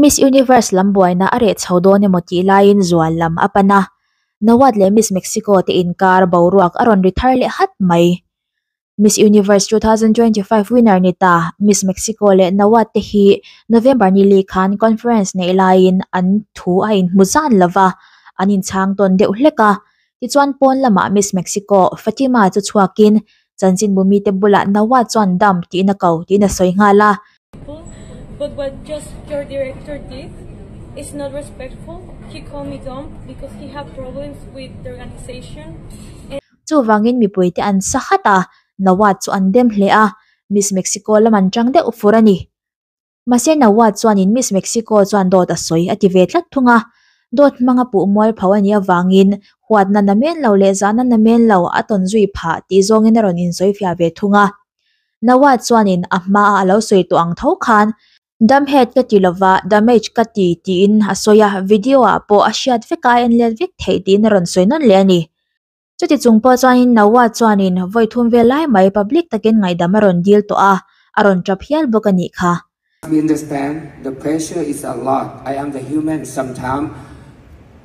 Miss Universe lam buaina a reh chho dawn emaw tih laiin zual lam a pan a, Nawat leh Miss Mexico te inkar boruak a rawn ri thar leh hat mai. Miss Universe two thousand twenty five winner ni ta Miss Mexico leh Nawat te hi November ni leh khan conference neih laiin an thu a in hmu zan lo va, an in chhang tawn deuh hlek a. Tichuan pawn lamah Miss Mexico, Fatima chu chhuakin chanchin bu mite bulah Nawat chuan dam tihna ko tiin a sawi nghal a. Chuvangin mipui te an sa khat a, Nawat chu an dem hle a, Miss Mexico lam an chang deuh fur a ni. Mahse Nawat chuanin Miss Mexico chuan dawt a sawi a ti ve tlat thung a, dawt hmanga puh mual pho a nih avangin huat na na men lo leh zahna na men lo a tawn zui phah tih zawngin a rawn insawi fiah ve thung a. Nawat chuanin a hma a a lo sawi tawh ang tho khan Dam het ka ti lova, damage ka ti, tiin a sawi a, video ah pawh a hriat vek a, a en let vek theih tiin a rawn sawi nawn leh a ni. Chuti chung pawh chuanin Naua chuanin vawi thum vel lai mai public takin ngaidam a rawn dil tawh a, a rawn tap hial bawk a nih kha.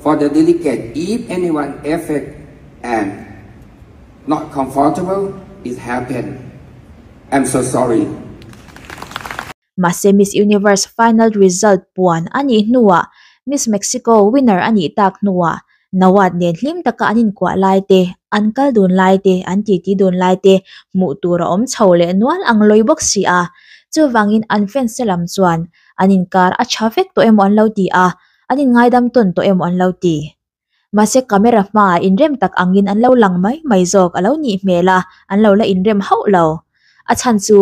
For the delicate, if anyone affect and not comfortable it happen I'm so sorry. Mahse Miss Universe final result puan a nih hnuah Miss Mexico winner a nih tak hnuah Nawat nen hlim taka an inkuah lai te, an kal dun lai te, an titi dun lai te hmuh tur a awm chho leh nual ang lawi bawk si a. Chuvangin an fans te lam chuan an inkar a tha vek tawh emaw an lo ti a, an inngaidam tawn tawh emaw an lo ti. Mahse camera hmaah inrem tak angin an lo lang mai mai zawk a lo nih hmel a, an lo la inrem hauh lo. A chhan chu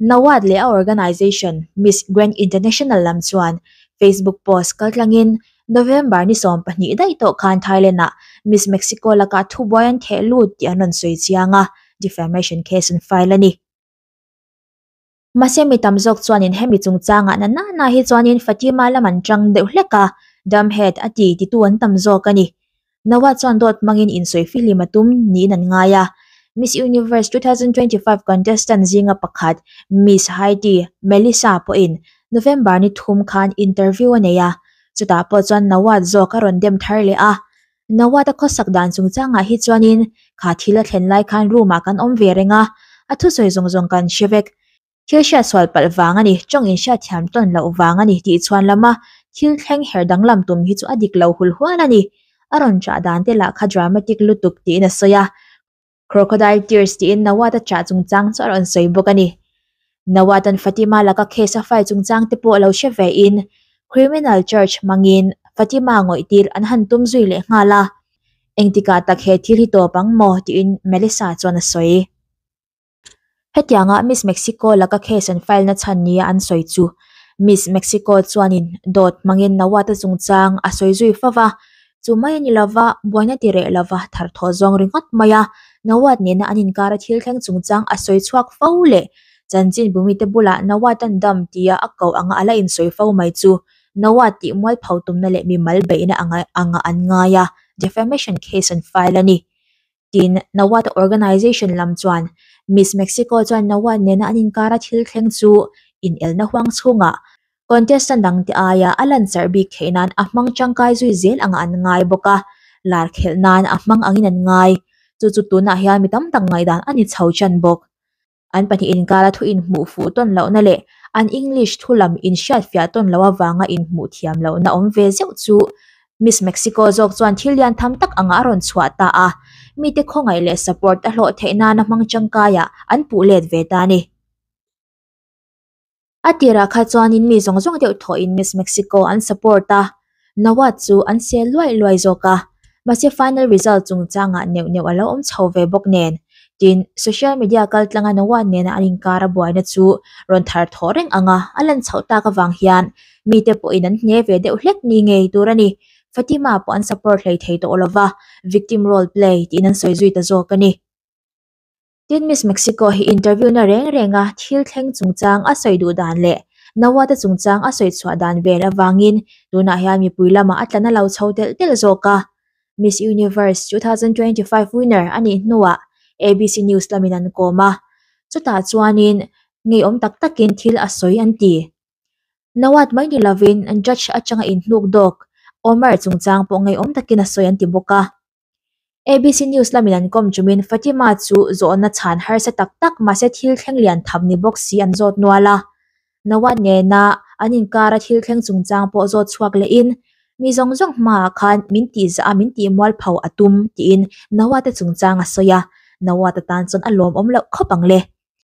Nawat leh a organisation Miss Grand International lam chuan Facebook post kal tlangin November ni sawm pahnih daih tawh khan Thailand-ah Miss Mexico laka thubuai an theh lut tih an rawn sawi chiang a, defamation case an file a ni. Mahse mi tam zawk chuanin hemi chungchanga na nana hi chuanin Fatima lam an tang deuh hlek a, Damhet a ti ti tu an tam zawk a ni. Naua chuan dawt hmangin insawi fi hlim a tum niin an ngai a. Miss Universe two thousand twenty five contestant zinga pakhat Miss Haiti Melissa pawhin November ni thum khan interview a nei a, chutah pawh chuan Naua zawk a rawn dem thar leh a. Nawata khawsak dan chung changah hi chuanin kha thil a thlen lai khan room ah kan awm ve reng a, a thusawi zawng zawng kan hre vek. Thil hriat sual palh vang a ni, tawng in hriat thiam tawn loh vang a ni tih chhuan lam a, thil thleng her danglam tum hi chu a dik lo hul hual a ni. A rawn chah dan te lah kha dramatic lutuk tiin a sawi a. Crocodile tears tiin Nawata chah chungchang chu a rawn sawi bawk a ni. Nawatan Fatima laka case a file chungchang te pawh lo hre ve in Criminal Charge hmangin Fatima ngawih tir an han tum zui leh nghal a, engtikah tak he thil hi tawp ang maw tiin Melissa chuan a sawi. Hetianga Miss Mexico laka case an file na chhan nia an sawi chu. Miss Mexico chuanin dawt hmangin Nawata chungchang a sawi zui fo va, chu mai a ni lova, buaina ti reh lova thar thawh zawng ri ngawt mai a, Nawat nena an inkara thil thleng chungchang a sawi chhuak fo leh chanchinbumi te bula Nawatan dam tia a koh anga a la insawi fo mai chu Nawat tih mualpho tumna leh mimal beihna anga an ngai a, defamation case an file a ni. tin Nawat organisation lam chuan Miss Mexico chuan Nawat nena an inkar a thil thleng chu inelna huang chhunga contestant dangte aia a lanchar bik theih nan a hmang tangkai zui zel anga an ngai bawk a, lar khelh nan a hmang angin an ngai chu chu tunah hian mi tam tak ngaihdan a ni chho chan bawk. an pahnih inkara thu inhmuh fuh tawn lohna leh an English thu lam inhriatfiah tawn loh avanga inhmuh thiam lohna awm ve zeuh chu Miss Mexico zawk chuan thil lian tham tak angah a rawn chhuah ta a, mite khawngaih leh support a hlawh theih nana hmang tangkaiah an puh let ve ta a ni. A tirah kha chuanin mi zawng zawng deuh thawhin Miss Mexico an support a, Nawaz chu an sel luai luai zawk a, mahse final result chungchangah neuh neuh a lo awm chho ve bawk nen. Tin, social media kaltlanga Nawaz nena an inkar a buaina chu rawn thar thawh reng ang a, a lan chhoh tak avang hian mite pawhin an hne ve deuh hlek ni ngei tur a ni. Fatima pawh an support hleithei tawh lo va, victim role play tiin an sawi zui ta zawk a ni. Tin, Miss Mexico hi interviewna reng renga thil thleng chungchang a sawi duh dan leh nauate chungchang a sawi chhuah dan vel avangin tunah hian mipui lama a tlan a lo chho telh telh zawk a. Miss Universe two thousand twenty five winner a nih hnuah abc news lamin an kawm a, chutah chuanin ngeiawm tak takin thil a sawi an ti. Nauat mai ni lovin judge atanga inhnuk dawk Omar chungchang pawh ngeiawm takin a sawi an ti bawk a. ABC News lamin an kawm chumin Fatima chu zawhna chhan harsa tak tak mahse thil thleng lian tham ni bawk si an zawt nual a. Nawaz nena an inkar a thil thleng chungchang pawh zawt chhuak lehin, Mi zawng zawng hmaah khan min tihzah a, min tihmual pho a tum, tiin Nawaz-a chungchang a sawi a. Nawaz-a tan chuan a lawmawm loh khawp ang le.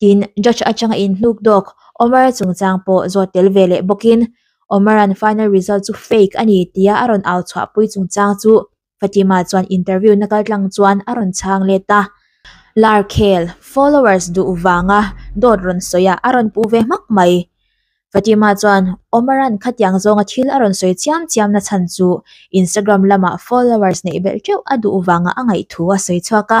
tin judge atanga in hnuk dawk Omara chungchang pawh zawt tel ve leh bawkin Omaran final result chu fake a ni tia a rawn au chhuahpui chungchang chu Fatima chuan interview na kal tlang chuan a rawn chhang let a. Larkhel, Followers duh vanga dawt rawn sawiah a rawn pu ve hmak mai. Fatima chuan Omaran khatiang zawnga thil a rawn sawi chiam chiam na chhan chu Instagram lamah followers neih belh teuh a duh vanga a ngaih thu a sawi chhuak a.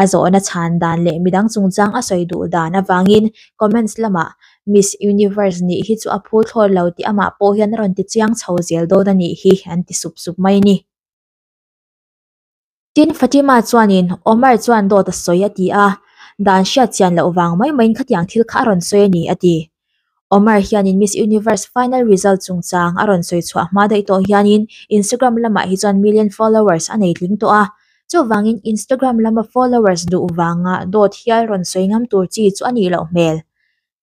a zawhna chhan dan leh midang chungchang a sawi duh dan avangin comments lamah Miss Universe nih hi chu a phûthlâwr lo tih amah pawh hian a rawn ti chiang chho zel dawn a nih hi an ti sup sup mai ni. Tin, Fatima chuanin Omar chuan dawt a sawi a ti a, dan hriat chian loh vang mai maiin khatiang thil kha a rawn sawi a ni a ti. Omar hianin Miss Universe final result chungchang a rawn sawi chhuah hma daih tawh hianin Instagram lamah hi chuan million followers a nei tling tawh a. Chuvangin Instagram lama followers duh vanga dawt hial rawn sawi ngam tur chi chu a nih loh hmel.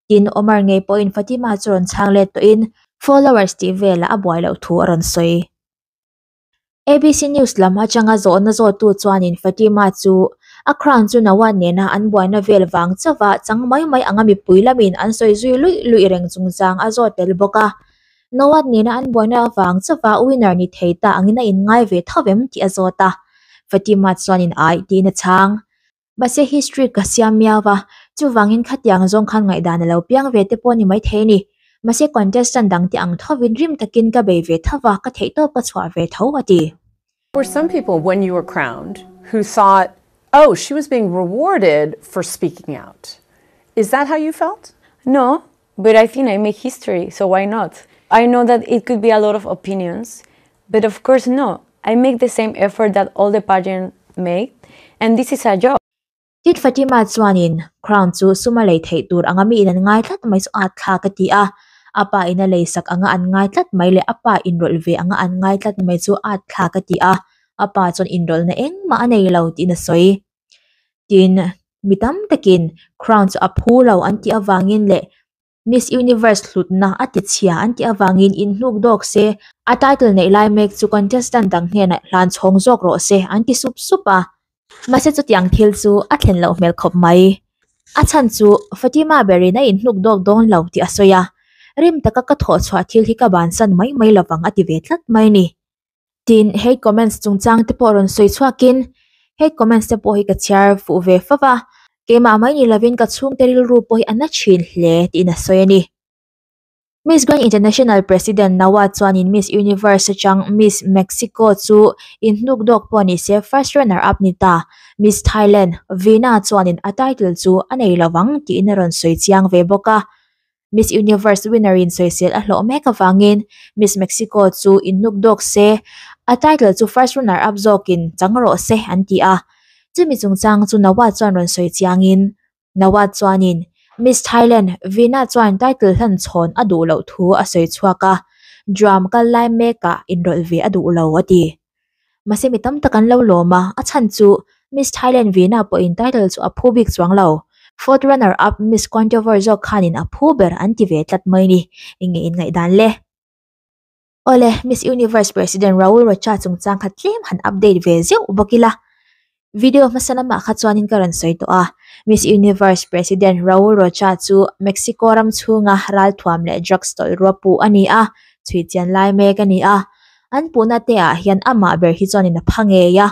Tin, Omar ngei pawhin Fatima chu rawn chhang let tawhin followers tih velah a buai loh thu a rawn sawi. ABC News lam atanga zawhna zawhtu chuanin Fatima chu a crown chu no a nena an buaina vel vang chauha chang mai mai anga mipui lamin an sawi zui luih luih reng chungchang a zawt tel bawk a. No a nena an buaina vang chauha winner ni thei ta angin a inngai ve thauh em tih a zawt a. Fatima chuanin aih tiin a chhang. Mahse hi street ka siam miau va, chuvangin khatiang zawng khan ngaihdan a lo piang ve te pawh a ni maithei a ni. Mahse contestant dang te ang tho in rim takin ka bei ve tho va, ka theihtawp ka chhuah ve tho, a ti. There were some people when you were crowned who thought oh she was being rewarded for speaking out, is that how you felt? No, But I think I make history so why not? I know that it could be a lot of opinions but of course no I make the same effort that all the pageant make and this is a job. Tit Fatima chuanin crown chu suma lei theih tur anga miin an ngai tlat mai saw at thlak a ti a, a pa ina lei sak anga an ngai tlat mai leh a pa inrawlh ve anga an ngai tlat mai chu at thlak a ti a, a pa chuan inrawlhna engmah a nei lo tihna sawi. tin mi tam takin crown chu a phu lo an tih avangin leh miss universe hlutna a tichhia an tih avangin in hnuk dawk se a title neih lai mek chu contestant ang hnenah hlan chhawng zawk rawh se an ti sup sup a mahse chutiang thil chu a thlen loh hmel khawp mai a chhan chu Fatima berin a in hnuk dawk dawn lo tih a sawi a rim taka ka thawh chhuah thil hi ka bansan mai mai lovang a ti ve tlat mai a ni. Tin, he comments chungchang te pawh rawn sawi chhuak in, he comments te pawh hi ka chhiar fuh ve fo va, keimah mai ni lovin ka chhungte rilru pawh hi a na thin hle tiin a sawi a ni. Miss Grand International President Nawaz chuanin Miss Universe atang Miss Mexico chu in hnuk dawk pawh ni se first runner up ni ta, Miss Thailand Veena chuanin a title chu a nei lovang tiin a rawn sawi chiang ve bawk a. Miss Universe winner in sawisel a hlawh mek avangin Miss Mexico chu innuk dawk se, a title chu first runner up zawkin chang rawh se an ti a. Chumi chungchang chu Nawat chuan rawn sawi chiangin Nawat chuanin Miss Thailand Vina chuan title hlan chhawn a duh loh thu a sawi chhuak a, drum kal lai mekah inrawlh ve a duh lo a ti. Mahse mi tam tak an lo lawm a, a chhan chu Miss Thailand vihna pawhin title chu a phu bik chuang lo. Fourth runner up Miss Controver zawk khanin a phu ber an ti ve tlat mai ni, eng nge in ngaih dan le. Awle, Miss Universe President Raul Rocha chungchang kha tlem han update ve zeuh bawk ila. Video hmasa lamah kha chuanin ka rawn sawi tawh a, Miss Universe President Raul Rocha chu Mexico ram chhunga ralthuam leh drugs tawlhrua puh a ni a, chhui chian lai mek a ni a. An puhna te ah hian amah ber hi chuanin a pha ngei a,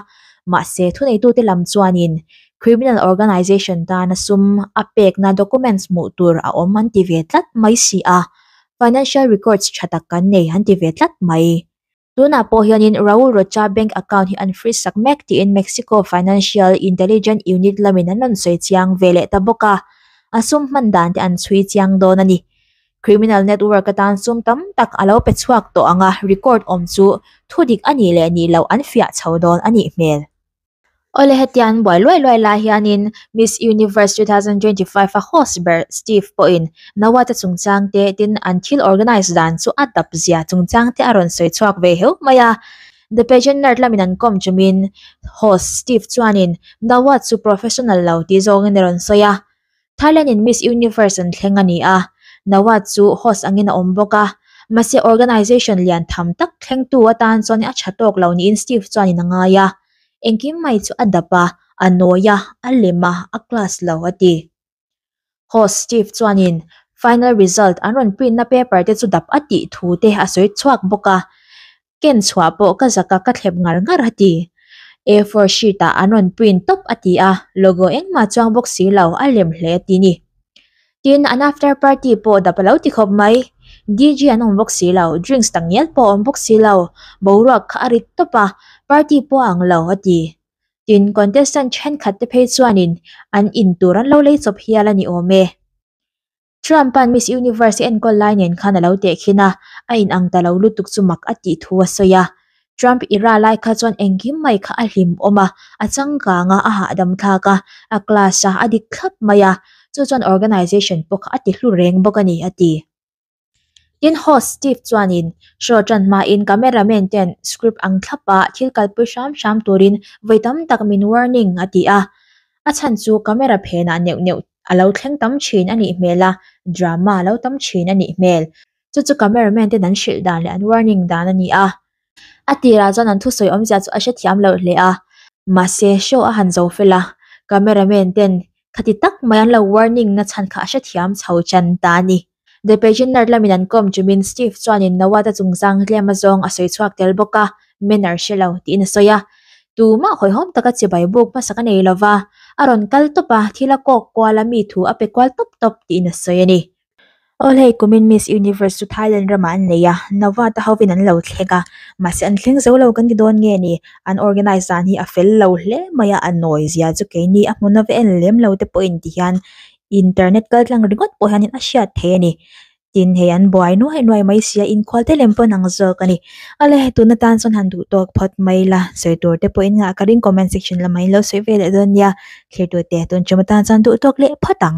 mahse thuneitute lam chuanin criminal organisation tana sum a pekna documents hmuh tur a awm an ti ve tlat mai si a, financial records tha tak kan nei an ti ve tlat mai. Tunah pawh hianin Raul Rocha bank account hi an freeze sak mek tiin Mexico Financial Intelligent Unit lamin an rawn sawi chiang ve leh ta bawk a, a sum hman dan te an chhui chiang dawn a ni. Criminal network atan sum tam tak a lo pe chhuak tawh anga record awm chu thu dik a nih leh nih loh an fiah chho dawn a nih hmel. Aw le hetiang an buai luai luai lai hianin Miss Universe two thousand twenty five a host ber Steve pawhin Nawate chungchang te tin an thil organise dan chu a dap zia chungchang te a rawn sawi chhuak ve heuh mai a. The Pageant Nerd lamin an kawm tumin host Steve chuanin Nawat chu professional lo tih zawngin a rawn sawi a. Thailand in Miss Universe an thleng a ni a, Nawaz chu host angin a awm bawk a, mahse organisation lian tham tak thlengtu atan chuan a tha tawk lo niin Steve chuan in a ngai a, engkim mai chu a dap a, a nawi a, a lem a, a class lo a ti. Host Steve chuan in final result an rawn print na paper te chu dap a tih thu te a sawi chhuak bawk a, ken chhuah pawh ka zaka ka thlep ngar ngar a ti. A four sheet ah an rawn print tawp a ti a, logo engmah chuang bawk si lo a lem hle a ti ni. Tin, an after party pawh dap a lo ti khawp mai. DJ an awm bawk si lo, drinks tak ngial pawh a awm bawk si lo, boruak kha a rit tawp a, party pawh a ang lo a ti. Tin, contestant thenkhat te phei chuanin an in tur an lo lei chawp hial a ni awm e. Trump-a'n Miss Universe enkawl lai nen khan a lo tehkhin a, a inang ta lo lutuk chu mak a tih thu a sawi a. Trump i ra lai kha chuan engkim mai kha a hlimawm a, a changkanga a hahdamthlak a, a class a a dik thlap mai a, chu chuan organization pawh kha a ti hlu reng bawk a ni, a ti. Tin, host Steve chuanin show tan hmain camera man ten script ang thlap a thil kalpui hram hram turin vawi tam tak min warning a ti a, a chhan chu camera phenah neuh neuh a lo thleng tam thin a nih hmel a drama a lo tam thin a nih hmel chu chu camera man ten an hrilh dan leh an warning dan a ni a a tirah chuan an thusawi awmzia chu a hre thiam loh hle a mahse show a han zo fel a camera man ten khati tak mai an lo warning nachhan kha a hrethiam chho chan ta a ni. The Pageaner lamin an kawm ṭumin Steve chuanin Nawat-a chung zanglema zawng a sawi chhuak tel bawk a, Manner hre lo, tiin a sawi a. Tumah hawihhawm taka chibai buk hmasa ka nei lo va, a rawn kal tawp a, thil a kawk kual a, mi thu a pe kual tawp tawp, tiin a sawi a ni. Aw, hei kumin Miss Universe chu Thailand ramah an nei a, Nawat-a hovin an lo thlek a, mahse an thleng zo lo kan ti dawn nge ni? An organise dan hi a fel lo hle mai a, a nawi zia chu keini a hmu nave en lem lo te pawhin ti hian internet kal tlang ringawt pawh hian in a hriat theih a ni tin hei an buai nuai nuai mai sia inkhawal te lem pawn ang zawk a ni a le tuna tan chuan han duh tawk phawt mai la sawi tur te pawhin ngah ka ring comment section lamah in lo sawi ve leh dawn nia thlir tur te tun ṭawm atan chuan duh tawk leh phawt ang.